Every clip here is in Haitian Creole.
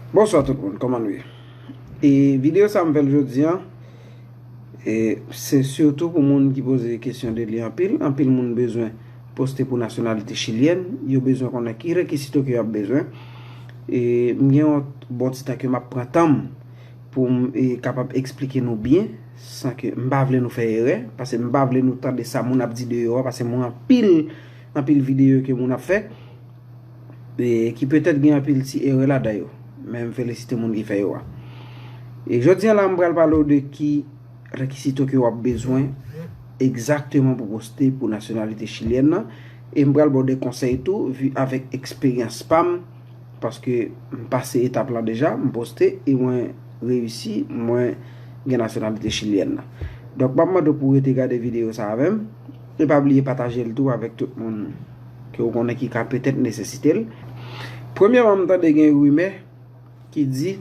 Bonswa tout moun, kòman nou ye? E videyo sa m fè l jodi an, e se sitou pou moun ki poze kesyon de li anpil, anpil moun bezwen poste pou nasyonalite chilyèn, yo bezwen konnen ki rekisito ke yo ap bezwen, e m gen yon bon ti tan ke m ap pran tan m pou m kapab eksplike nou byen, san ke m pa vle nou fè erè, pase m pa vle nou tande sa moun ap di deyò, pase m wè anpil, anpil videyo ke moun ap fè. ki petèt gen anpil ti erè ladan yo, men m felisite moun ki fè yo a. E jodi a la m pral pale ou de ki rekisito ke w ap bezwen egzakteman pou poste pou nasyonalite chilyèn nan, e m pral ba w de konsèy tou vi avèk eksperyans pa m, paske m pase etap lan deja, m poste e mwen reyisi, mwen gen nasyonalite chilyèn nan. Donk m ap mande w pou w rete gade videyo sa avè m. E pa bliye pataje l tou avèk tout moun ke ou konnen ki ka petèt nesesite l. Premyèman m tande gen rimè ki di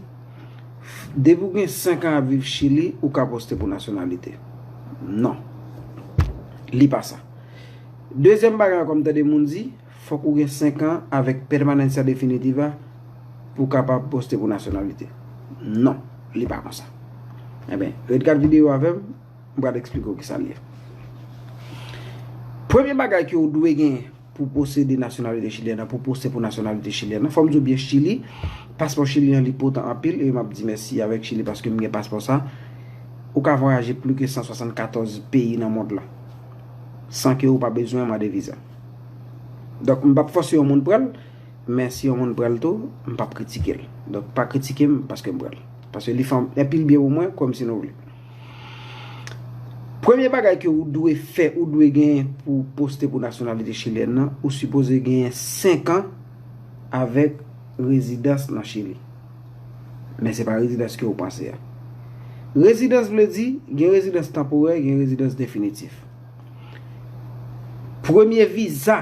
depi ou gen 5 an ap viv Chili ou ka poste pou nasyonalite. Non. Li pa sa. Dezyèm bagay ankò m tande moun di fòk ou gen 5 an avèk Permanencia Definitiva pou w kapab poste pou nasyonalite. Non. Li pa konsa. Enben, ret gad videyo avè m. M pral eksplike w kisa l ye. Premye bagay ke ou dwe gen pou posede nasyonalite chilyèn nan, pou poste pou nasyonalite chilyèn nan, fò m di w byen Chili, paspò Chili an li potan anpil, e m ap di mèsi avèk Chili paske m gen paspò sa, ou ka vwayaje plu ke 174 peyi nan mond lan, san ke ou pa bezwen mande viza. Donk m p ap fòse yon moun pran l, men si yon moun pran l tou, m p ap kritike l. Donk pa kritike m paske m pran l. Paske li fè anpil byen pou mwen, kwè m si nou vle. Premye bagay ke ou dwe fè, ou dwe genyen pou ou poste pou nasyonalite chilyèn nan, ou sipoze genyen 5 an avèk rezidans nan Chili. Men se pa rezidans ke ou panse a. Rezidans vle di, gen rezidans tanporè, gen rezidans definitif. Premye viza.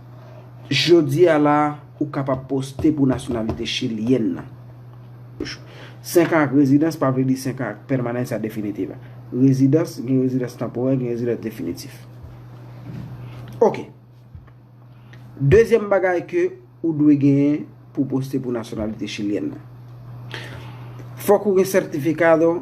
Jodi a la a, ou kapab poste pou nasyonalite chilyèn nan. 5 an ak rezidans pa vle di 5 an ak pèmanensa definitiva. Rezidans, gen rezidans tanporè, gen rezidans definitif. Ok. Dezyèm bagay ke ou dwe genyen pou poste pou nasyonalite chilyèn nan. Fòk ou gen certificado.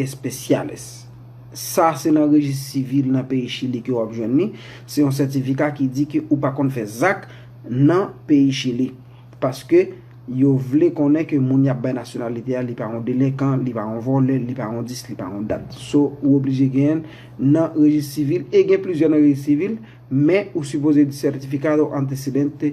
Especiales. Sa se nan rejis sivil nan peyi Chili ke wap jwenn li. Se yon sètifika ki di ke ou pa konn fè zak nan peyi Chili. Paske yo vle konnen ke moun yap bay nasyonalite a li pa yon delenkan, li pa yon vòlè, li pa yon dis, li pa yon dat. So ou oblije genyen'l nan rejis sivil e gen plizyè nan rejis sivil men ou sipoze di certificado antecedente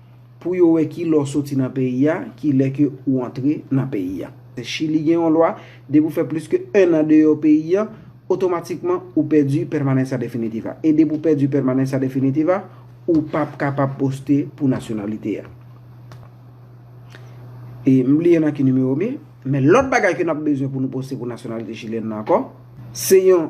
pou yo wè ki lè w soti nan peyi a, ki lè ke ou antre nan peyi a. Chili gen yon lwa, depi ou fè plis ke 1 an deyò peyi a, otomatikman ou pèdi Permanencia Definitiva. E depi ou pèdi Permanencia Definitiva, ou p ap kapab poste pou nasyonalite a. E m bliye nan ki nimewo m ye, men lòt bagay ke n ap bezwen pou nou poste pou nasyonalite chilyèn nan ankò, se yon.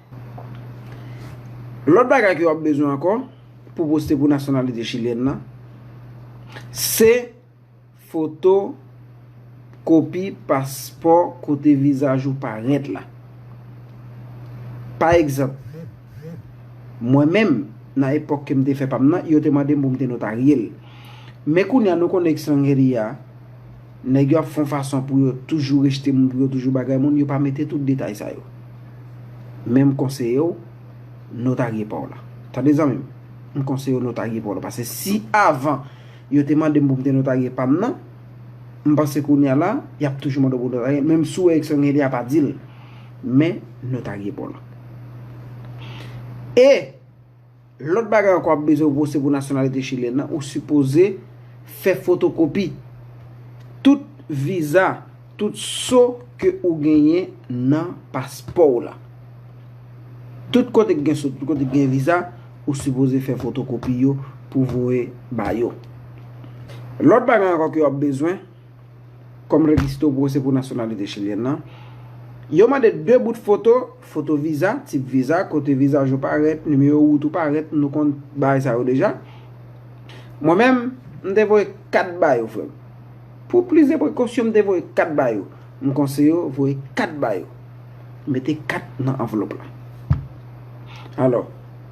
Lòt bagay ke w ap bezwen ankò pou poste pou nasyonalite chilyèn nan, se foto kopi paspò kote vizaj ou parèt la. Pa egzanp, mwen menm, nan epòk ke m te fè pa m nan, yo te mande m pou m te notarye l. Men kounye a, nou konnen ekstranjeri a. Nèg yo ap fon fason pou yo toujou rejte moun, pou yo toujou bagay moun, yo pa mete tout detay sa yo. Men m konseye w notarye pa w la. Tande zanmi m, m konseye w notarye pa w la. Pase si avan yo te mande m pou m te notarye pa m nan, m panse kounye a la, y ap toujou mande w pou w notarye l. Menm si w wè eksyon gen, y a pa di l. Men notarye pa w la. E! Lòt bagay ankò wap bezwen vose pou nasyonalite chilyen nan ou sipoze fè fotokopi tout viza tout so ke ou genyen nan paspòw la tout kote ki gen so tout kote ki gen viza ou sipoze fè fotokopi yo pou voye ba yo lòt bagay ankò ke wap bezwen. kòm registo pou se pou nasyonalite chilyèn lan, yo mande 2 bout foto, foto viza, tip viza, kote vizaj ou parèt, nimewo wout ou parèt, nou konn bagay sa yo deja. Mwen menm, m te voye 4 ba yo frè m. Pou plis de prekosyon m te voye 4 ba yo. M konseye w voye 4 ba yo. Mete 4 nan anvlop la. Alò,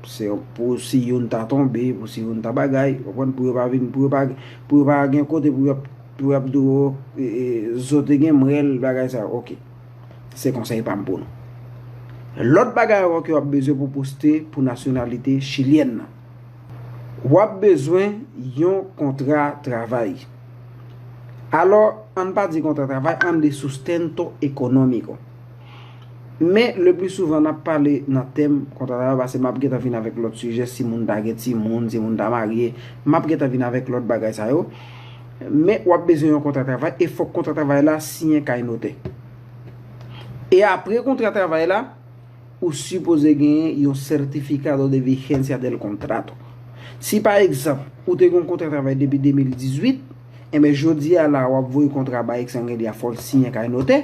se pou si youn ta tonbe, pou si youn ta bagay, ou konprann, pou yo pa vin, pou yo pa Pou yo pa gen kote pou yap pou yap di w zo te gen mrèl bagay sa yo ok. Se konsèy pa m pou nou. Lòt bagay ankò ke wap bezwen pou poste pou nasyonalite chilyèn nan. Wap bezwen yon kontra travay. Alò, an n pa di kontra travay, an n di sustento economico. Men le pli souvan nap pale nan tèm kontrarav pase map gentan vin avèk lòt sijè si moun ta gen timoun, si moun ta marye, map gentan vin avèk lòt bagay sa yo. Men wap bezwen yon kontra travay e fòk kontra travay la siyen kay notè. E apre kontra travay la, ou sipoze genyen yon certificado de vigencia del contrato. Si pa egzanp, ou te gon kontra travay depi 2018, enben jodi a la wap voye kontra bay eksangen li a fòl siyen kay notè.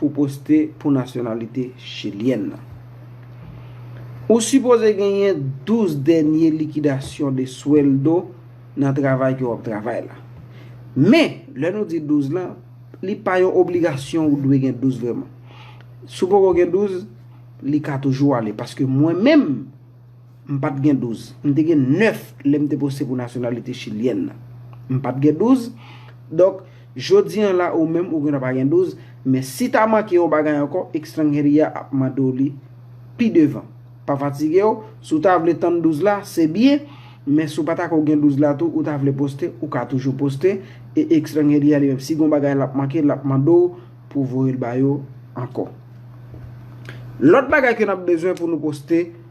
pou poste pou nasyonalite chilyèn nan. Ou sipoze genyen 12 dènye likidasyon de sweldo nan travay ke w ap travay la. Men, lè nou di 12 lan, li pa yon obligasyon ou dwe gen 12 vreman. Si w poko gen 12, li ka toujou ale. Paske mwen menm. M pa t gen douz. M te gen nèf lè m te poste pou nasyonalite chilyèn nan. M pa t gen douz. Donk, jodi an la ou menm ou gentan pa gen douz, men si ta manke yon bagay ankò, Extranjeria a ap mande w li pi devan. Pa fatige w, si w ta vle tann douz la, se byen, men si w pa ta ko gen douz la tou, ou ta vle poste, ou ka toujou poste, e Extranjeria li menm, si gen yon bagay l ap manke, l ap mande w pou w voye l ba yo ankò. Lòt bagay ke n ap bezwen pou nou poste.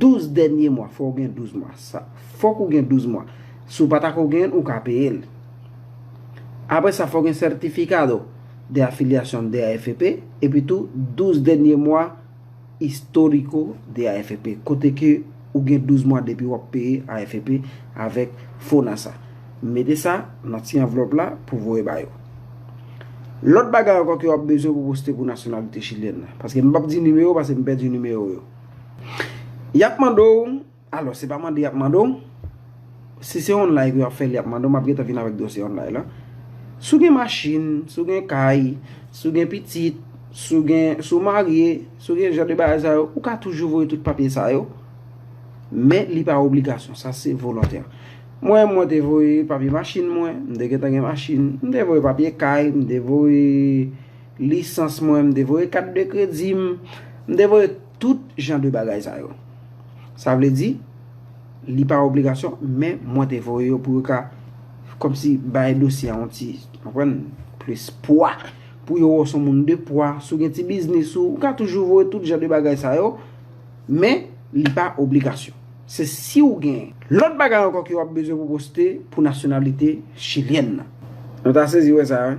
12 dènye mwa fòw gen 12 mwa sa fòk ou gen 12 mwa si w pa ta ko genyen l ou ka peye l apre sa fòw gen certificado de afiliacion de AFP epi tou 12 dènye mwa historico de AFP kote ke ou gen 12 mwa depi wap peye AFP avèk Fonasa mete sa nan ti anvlòp la pou voye ba yo lòt bagay ankò ke wap bezwen pou poste pou nasyonalite chilyèn nan paske m pap di nimewo paske m pèdi nimewo yo. Yap mande w, alò se pa mande yap mande w, si se online pou yap fè l yap mande w, map gentan vin avèk dosye online lan. Si w gen machin, si w gen kay, si w gen pitit, si w gen, si w marye, si w gen jan de bagay sa yo, ou ka toujou voye tout papye sa yo, men li pa obligasyon, sa se volontè. Mwen, mwen te voye papye machin mwen, m te gentan gen machin, m te voye papye kay, m te voye. Lisans mwen, m te voye kat de kredi m, m te voye tout jan de bagay sa yo. Sa vle di, li pa obligasyon, men mwen te voye yo pou yo ka kòmsi bay dosye a yon ti, ou konprann, plis pwa, pou yo wè w se yon moun de pwa, si w gen ti biznis ou, ou ka toujou voye tout jan de bagay sa yo, men li pa obligasyon. Se si w gen. Lòt bagay ankò ke w ap bezwen pou poste pou nasyonalite chilyèn nan. Nou ta sezi wè sa wi.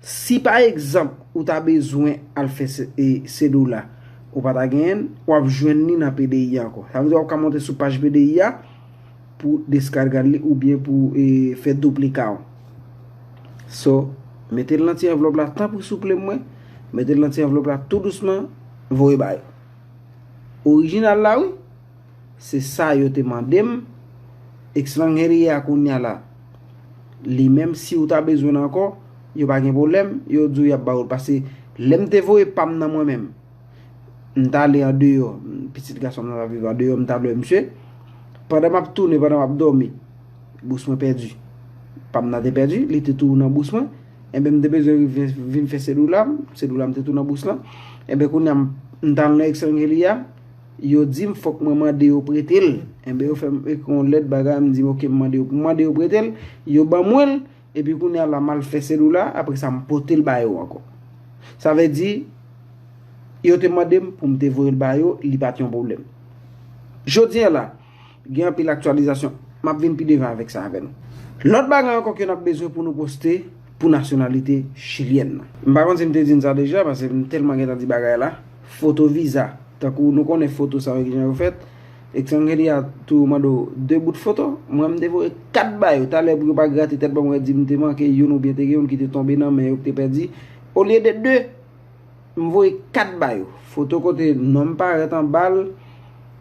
Si pa egzanp ou ta bezwen al fè Cedula ou pa ta genyen l, w ap jwenn li nan PDI a ankò. Sa vle di w ap ka monte sou paj PDI a pou deskarga li oubyen pou fè duplika w. So, mete l nan ti anvlòp la tanpri souple mwen, mete l nan ti anvlòp la tou dousman, voye ba yo. Orijinal la wi! Se sa yo te mande m. Ex lang he li ye a kounya la. Li menm siw ta bezwenl ankò yo pa gen pwoblèm yo diw yap ba ou l pase lèm te voye pam nan mwen menm m t ale andeyò pitit gasonm nan t ap viv andeyò m t al wè misye pandan m ap tounen pandan m ap dòmi bous mwen pèdi pam nan te pèdi li te tou nan bous mwen enben m te bezwen vin fè sedoula m sedoula m te tou nan bous lan enben kounya m t al nan ex lang he li a Yo di m fòk mwen mande yo prete l. Enben yo fè m ekri yon lèt bagay m di m ok m mande yo. M mande yo prete l, yo ban mwen l epi kounye a la m al fè selula a apre sa m pote l ba yo ankò. Sa vle di yo te mande m pou m te voye l ba yo, li pa t yon pwoblèm. Jodi a la. Gen anpil aktyalizasyon. M ap vin pi devan avèk sa avè nou. Lòt bagay ankò ke n ap bezwen pou nou poste pou nasyonalite chilyèn nan. M pa konn si m te di n sa deja pase m tèlman gentan di bagay la. Foto viza. Tankou nou konnen foto sa yo kijan yo fèt. Extranjeria tou yo mande w 2 bout foto. Mwen m te voye 4 ba yo. Talè pou yo pa grate tèt pa m wè di m te manke youn oubyen te gen youn ki te tonbe nan men yo ki te pèdi. Olye de 2. M voye 4 ba yo. Foto kote non m parèt anba l,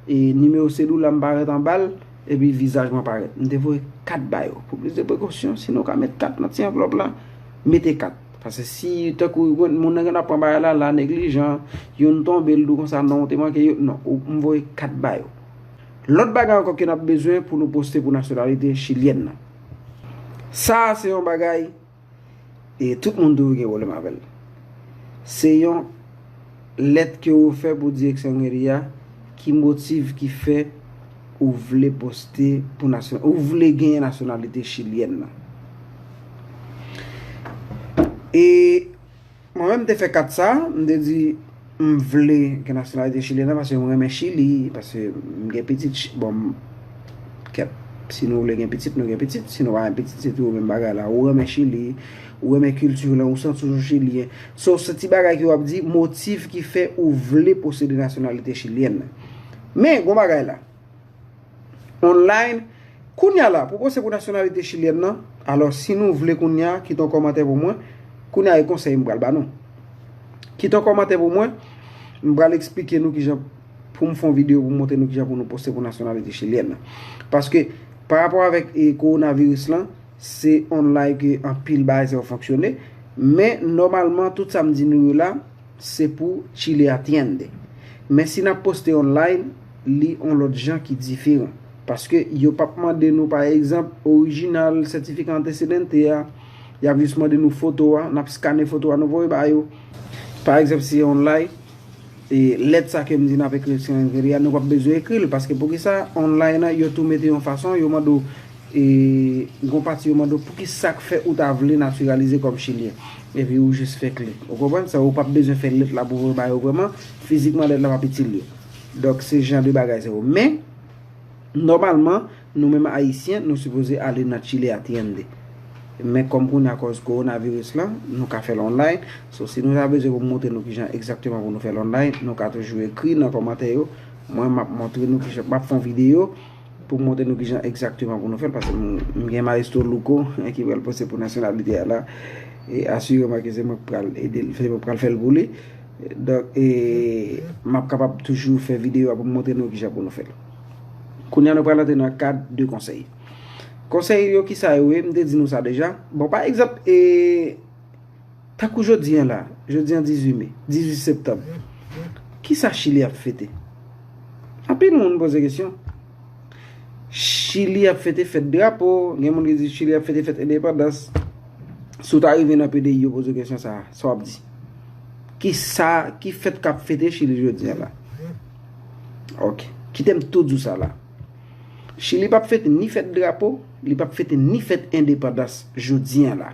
e nimewo selula m parèt anba l, epi vizaj mwen parèt. M te voye 4 ba yo. Pou plis de prekosyon, si nou ka met 4 nan ti anvlòp la, mete 4. Pase si tankou moun nan gen dwa pran bagay la, la neglijan, youn tonbe, l di w konsa non ou te manke yo, non. M voye 4 ba yo. Lòt bagay ankò ke n ap bezwen pou nou poste pou nasyonalite chilyèn nan. Sa a se yon bagay. E tout moun toujou gen pwoblèm avè l. Se yon lèt ke ou fè pou direksyon meri a, ki motiv ki fè ou vle poste pou nasyon, ou vle genyen nasyonalite chilyèn nan. E. Mwen menm m te fè kat sa, m te di m vle gen nasyonalite chilyen nan paske m renmen Chili, paske m gen pitit, bon m kèt si nou vle gen pitit nou gen pitit, si nou pa gen pitit se toujou menm bagay la, ou renmen Chili, ou renmen kilti w lan, ou santi w toujou chilyen. So se ti bagay ke w ap di motiv ki fè ou vle posede nasyonalite chilyèn nan. Men, gon bagay la. Online, Kounya la, pou pwosè pou nasyonalite chilyèn nan, alò si nou vle kounya, kite yon kòmantè pou mwen, kounya e konsèy m pral ba nou. Kite yon kòmantè pou mwen, m pral eksplike nou kijan pou m fè yon videyo pou m montre nou kijan pou nou pwosè pou nasyonalite chilyèn nan. Paske, pa rapò avèk e kowonaviris lan, se online ke anpil bagay sa yo fonksyone, men nòmalman tout sa m di nou yo la, Se pou chile atiende. Men si nap poste online li on lot jan ki diferan. Paske yo pap mande nou pa egzanp original certifica antecedente a, yap jis mande nou foto a, nap skane foto a nou voye ba yo. Pa egzanp si online e lèt sa kem di nap ekri nou pap bezwen ekril paske poukisa online yo tou mete yon fason yo mande w E gon pati yo mande w pouki sa k fè ou ta vle natiralize kòm chilyen. Epi ou jis fè kle. Ou konprann? Sa ou pap bezwen fè lèt la pou voye ba yo vrèman. Fizikman lèt la pap itil yo. Donk se jan de bagay sa yo. Men, nòmalman, nou menm Ayisyen, nou sipoze ale nan Chile Atiende. Men kòm kounye a akòz kowonaviris lan, nou ka fè l online. So si nou ta bezwen pou m montre nou kijan egzakteman pou nou fè l online, nou ka toujou ekri nan kòmantè yo. Mwen map montre nou kijan, map fè yon videyo. Pou m montre nou ki jan egzakteman pou nou fè l, pase m gen maestro Louko ki pral poste pou nasyonalite a la, e asireman ke se mwen ki pral ede l, se mwen ki pral fè l pou li. Donk, e m ap kapab toujou fè videyo a pou m montre nou ki jan pou nou fè l. Kounye a nou pral antre nan kad de konsèy. Konsèy yo ki sa yo ye? M te di nou sa deja. Bon, pa egzanp, e. Tankou jodi an la, jodi an 18 me, 18 septanm, ki sa Chili ap fete? Anpil moun poze kesyon. Chili ap fete fèt drapo, gen moun ki di Chili ap fete fèt endepandans. Si w ta rive nan PDI yo poze w kesyon sa a, sa w ap di? Ki sa, ki fèt k ap fete Chili jodi an la? Ok, kite m tou di w sa la. Chili p ap fete ni fèt drapo, li p ap fete ni fèt endepandans jodi an la.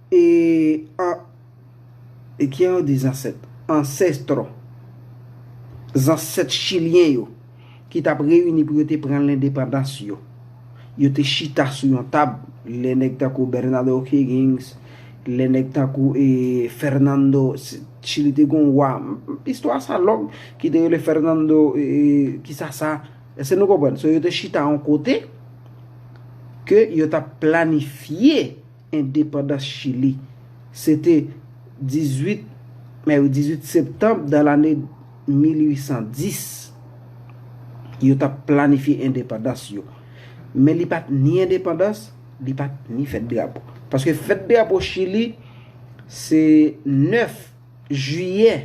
E an E kijan yo di zansèt? Ancestro Zansèt chilyen yo ki t ap reyini pou yo te pran lendepandans yo, yo te chita sou yon tab lè nèg tankou Bernard O'Higgins, lè nèg tankou e Fernando Chili te gen yon wa, istwa sa long, ki te rele Fernando e kisa sa Èske nou konprann? So yo te chita yon kote ke yo t ap planifye Endepandans Chili. Se te 18 me ou 18 septanb dan lane 1810 yo t ap planifye endepandans yo. Men li pa t ni endepandans, li pa t ni fèt drapo. Paske fèt drapo Chili se 9 jiyè.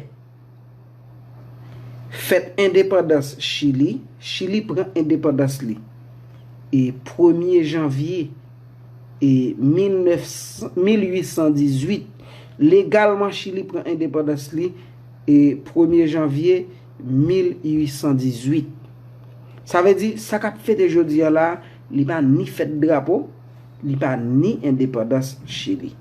Fèt Endepandans Chili Chili pran endepandans li e premye janvye e 1818 Legalman Chili pran endepandans li e premye janvye 1818 Sa vle di sa k ap fete jodi an la a li pa ni fèt drapo li pa ni endepandans chili.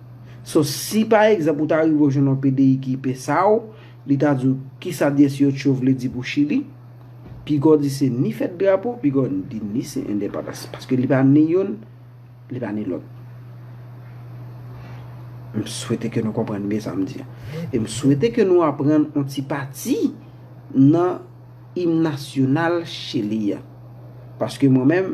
So si pa egzanp ou ta rive ou jwenn yon pdi ki pe sa w, li ta di w kisa 18 vle di pou chili, pigaw di se ni fèt drapo, pigaw di ni se endepandans. Paske li pa ni youn, li pa ni lòt. M swete ke nou konprann byen sa m di a. E m swete ke nou aprann yon ti pati nan im nasyonal chili a. Paske mwen menm.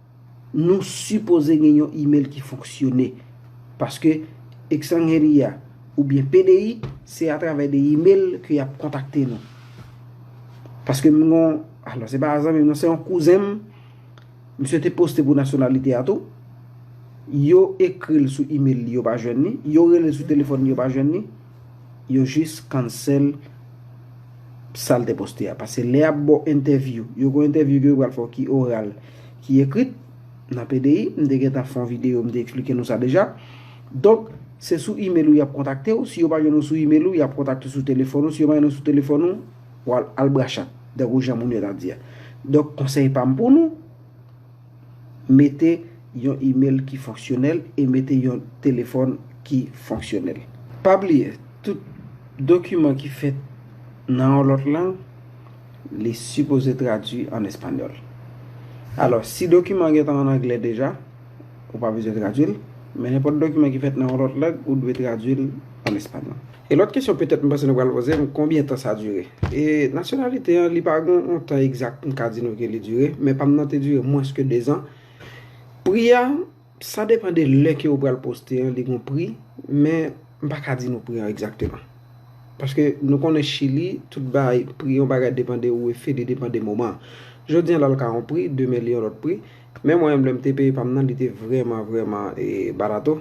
Nou sipoze gen yon email ki fonksyone. Paske Extranjeria oubyen PDI se atravè de email ke yap kontakte nou. Paske m gon, alò se pa zanmim non, se yon kouzen m, misye te poste pou nasyonalite a tou, yo ekril sou email li yo pa jwenn li, yo relel sou telefòn li yo pa jwenn li, Yo jis cancel sal te poste a. Pase lè yap baw entèvyou. Yo gon entèvyou ke yo pral fè w ki oral, ki ekrit. Nan pdi, m te gentan fè yon video m te eksplike nou sa deja. Donk, se sou email ou yap kontakte w. Si yo pa jwenn ou sou email ou, yap kontakte w sou telefòn ou. Si yo pa jwenn ou sou telefòn ou, wal al brachat. Tankou jan moun yo ta di a. Donk, konsèy pa m pou nou. Mete yon imel ki fonksyonèl e mete yon telefòn ki fonksyonèl. Pa bliye, tout dokiman ki fèt nan yon lòt lang, li sipoze tradui an espanyòl. Alò, si dokiman an gen tan an anglè deja, ou pa bezwen tradui l, men nenpòt dokiman ki fèt nan yon lòt lang, ou dwe tradui l an espanyòl. E lòt kesyon petèt m panse nou pral poze m, konbyen tan sa dire? E nasyonalite an, li pa gen yon tan egzak m ka di nou ke li dire, men pa m nan te dire mwens ke 2 zan. Pri a, sa depan de lè ke yo pral poste an, li gen yon pri, men m pa ka di nou pri an egzakteman. Paske nou konnen Chili, tout bagay, pri yon bagay depan de ou e fi li depan de moman an. Jodi an la l ka yon pri, demen li yon lòt pri. Men mwen menm lè m te peye pa m nan li te vrèman vrèman barato.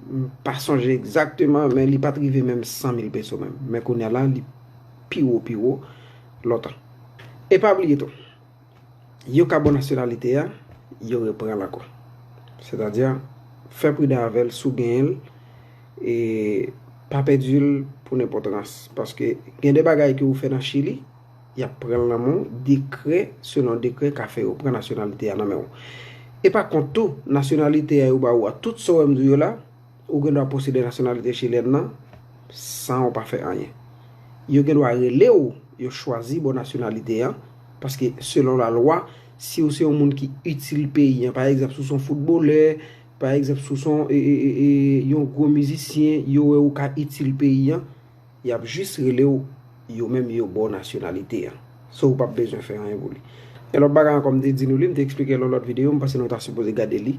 M pa sonje egzakteman men li pat rive menm 100 mil peso menm. Men kounya la li pi wo pi wo lontan. E pa bliye tou, yon ka bon nasyonalite a, yo repran l ankò. Sètadi, fè pridan avè l si w genyen l e pa pèdi l pou nenpòt rans. Paske gen de bagay ke ou fè nan Chili. Y ap pran l nan men w, dekrè selon dekrè ka fè yo pran nasyonalite a nan men w. E pa kont tou, nasyonalite a yo ba ou a, tout sa w wè m di w yo la, ou gen dwa posede nasyonalite chilyèn nan san ou pa fè anyen. Yo gen dwa rele w, yo chwazi ba w nasyonalite an, paske selon lalwa, si ou se yon moun ki itil peyi an, pa egzanp si w se yon foutbolè, pa egzanp si w se yon gwo mizisyen, yo wè ou ka itil peyi an, Yap jis relew yo menm yo baw nasyonalite an. So ou pap bezwen fè anyen pou li. Yon lòt bagay ankò m te di nou li, m te eksplikel nan lòt videyo, m panse nou ta sipoze gade li.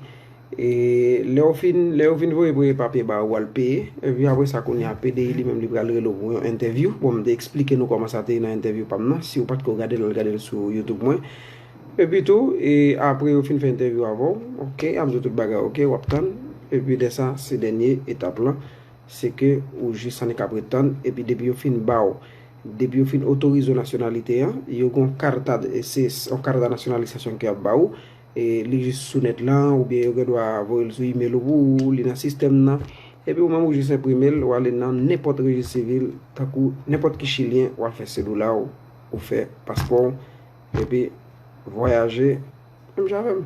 E lèw fin, lèw fin voye premye papye ba ou wal peye. Epi apre sa kounye a PDI li menm li pral relew pou yon entèvyou. Bon m te eksplike nou kòman sa te ye nan entèvyou pam nan. Siw patko gadel al gadel sou YouTube mwen. Epi tou, e apre yo fin fè entèvyou avèw, ok, yap diw tout bagay ok, wap tann. Epi lè sa se dènye etap lan. Se ke ou jis annik ap ret tann, epi depi yo fin ba w, depi yo fin otorize w nasyonalite an, yo gen yon karta, se yon karta nasyonalisasyon ke y ap ba ou, e li jis sou nèt lan, oubyen yo gen dwa voye l sou imel ou pou ou, li nan sistèm nan, epi ou menm ou jis enprime l, w ale nan nenpòt rejis sivil, tankou nenpòt ki chilyen, w al fè sedoula w, ou fè paspò w, epi vwayaje. Menm jan avèm.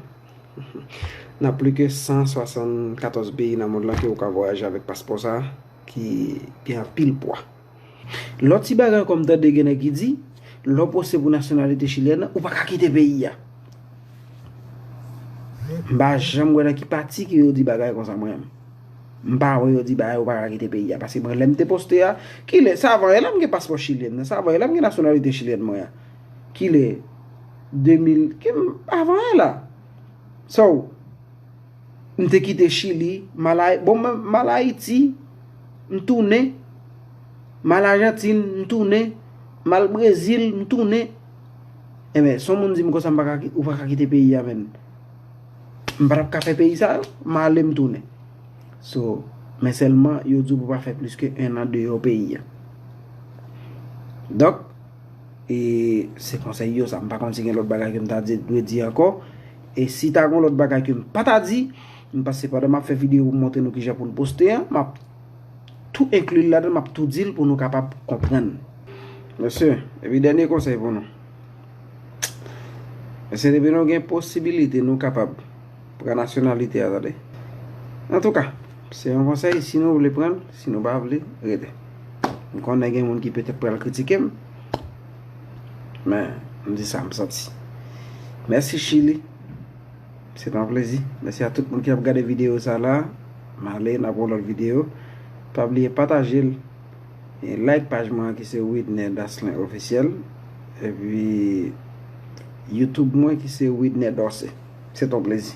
Nan pli ke 174 peyi nan mond lan ke ou ka vwayaje avèk paspò sa ki gen anpil pwa. Lòt ti bagay ankò m tande gen nèg ki di, lè w poste pou nasyonalite chilyèn nan, ou pa ka kite peyi a. M pa janm wè nan ki pati ke yo di bagay konsa mwen menm. M pa wè yo di bagay ou pa ka kite peyi a. Paske mwen lè m te poste a, kilè, sa avan e la m gen paspò chilyèn nan, sa avan e la m gen nasyonalite chilyèn mwen an. Kilè? 2000, ke m pa vre la. So, m te kite Chili, m al Ayiti, bon m al Ayiti, m tounen, m al Ajantin, m tounen, m al Brezil, m tounen. Enben, son moun di m konsa m pa ka, ou pa ka kite peyi a menn. M pa tap ka fè peyi sa yo, m ale m tounen. So, men sèlman, yo di w pou pa fè plis ke 1 an deyò peyi a. Dok. E se konsèy yo sa. M pa konn si gen lòt bagay ke m ta dwe di ankò. E si ta gen lòt bagay ke m pa ta di, m panse pandan m ap fè videyo pou m montre nou kijan pou n poste an, m ap tou enkli l ladan, m ap tou di l pou nou kapab konprann. Mèsi. Epi dènye konsèy pou nou. Mèsi depi nou gen posibilite nou kapab pran nasyonalite a tande. Antouka, se yon konsèy si nou vle pran l. Si nou pa vle, rete. M konnen gen moun ki petèt pral kritike m. Men, m di sa m santi. Mèsi Chili. Se tan plezi. Mèsi a tout moun ki ap gade videyo sa la. M ale, n ap wè lòt videyo. Pa bliye pataje l. E like paj mwen ki se Widner Daslen Ofisyèl. E pi YouTube mwen ki se Widner Dorcé. Se tan plezi.